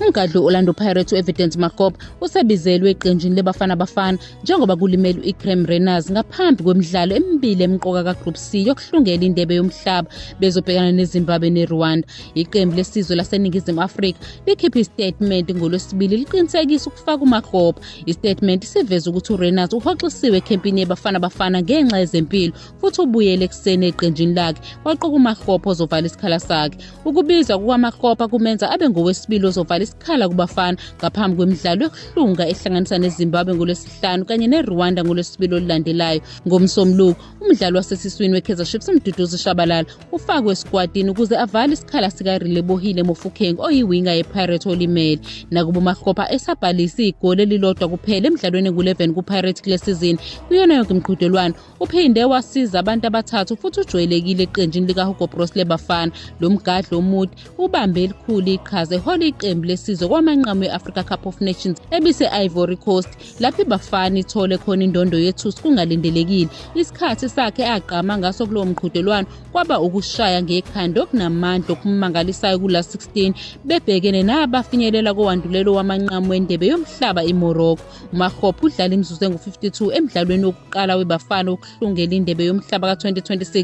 Umgadli Orlando Pirates uEvidence Makop usebizelwe eqenjini leBafana Bafana njengoba kulimele uIcrem Renas ngaphambi kwemidlalo emibili emqoka kaGroup C yokuhlungela indebe yomhlaba bezobhekana neZimbabwe neRwanda. Iqembu lesizwe laseNingizimu Afrika likhiphe istatement ngoLwesibili liqinisekisa ukufaka uMakop. Istatement siveza ukuthi uRenas uhoxisiwe ekhempini yeBafana Bafana ngenxa yezempilo futhi ubuyele ekuseni eqenjini lakhe waqoka uMakgopa ozovala isikhala sakhe. Ukubizwa kukaMakgopa kumenza abe ngowesibili ozovala isikhala kubafana ngaphambi kwemidlalo yokuhlunga ehlanganisa neZimbabwe ngolwesihlanu kanye neRwanda ngolwesibili olulandelayo. Ngomsombuluko, umdlali wasesiswini weKaizer Chiefs uMduduzi Shabalala ufakwe esikwatini ukuze avale isikhala sikaRelebohile Mofokeng oyiwinga yePirates olimele. Nakuba uMakgopa esabhalise igoli elilodwa kuphela emidlalweni engu-11 kuPirates kule sizini kuyona yonke imiqhudelwano Uphinde wasiza abantu abathathu futhi ujwayelekile eqenjini likaHugo Broos leBafana. Lo mgadli omude ubambe elikhulu iqhaza ehola iqembu lesizwe kwamanqamu e-Africa Cup of Nations ebise-Ivory Coast lapho iBafana ithole khona indondo yethusi kungalindelekile. Isikhathi sakhe agqama ngaso kulowo mqhudelwano kwaba ukushaya ngekhanda okunamandla okumangalisayo kula 16 bebhekene nabafinyelela kowandulela wamanqamu wendebe yomhlaba iMorocco. umahope udlale imizuzu engu-52 emdlalweni wokuqala webafana wokuhlungela indebe yomhlaba ka-2026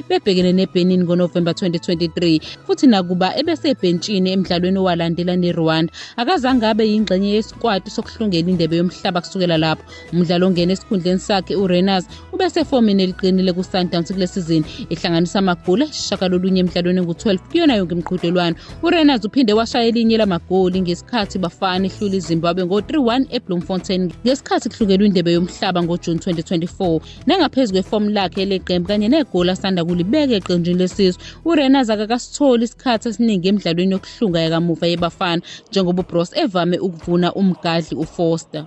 bebhekene nebenin ngonovemba 2023 futhi nakuba ebesebhentshini emdlalweni owalandela nerwanda akazange abe yingxenye yesikwati sokuhlungela indebe yomhlaba kusukela lapho umdlalo ongena esikhundleni sakhe urenas ubesefomini eliqinile ku-sundowns kule sizini ihlanganisa amagoli ashaka lolunye emdlalweni engu-12 kuyona yonke imiqhudelwano urenards uphinde washaya elinye lamagoli ngesikhathi bafana ihlula izimbabwe ngo-3-1 ebloemfontein ngesikhathi kuhlukelwe indebe yomhlaba ngojuni 2024 nangaphezu kwefomu lakhe eleqembu kanye negoli asanda kulibeka eqenjini lesizwe urenards akakasitholi isikhathi esiningi emidlalweni yokuhlunga yakamuva yebafana njengoba ubros evame ukuvuna umgadli ufoster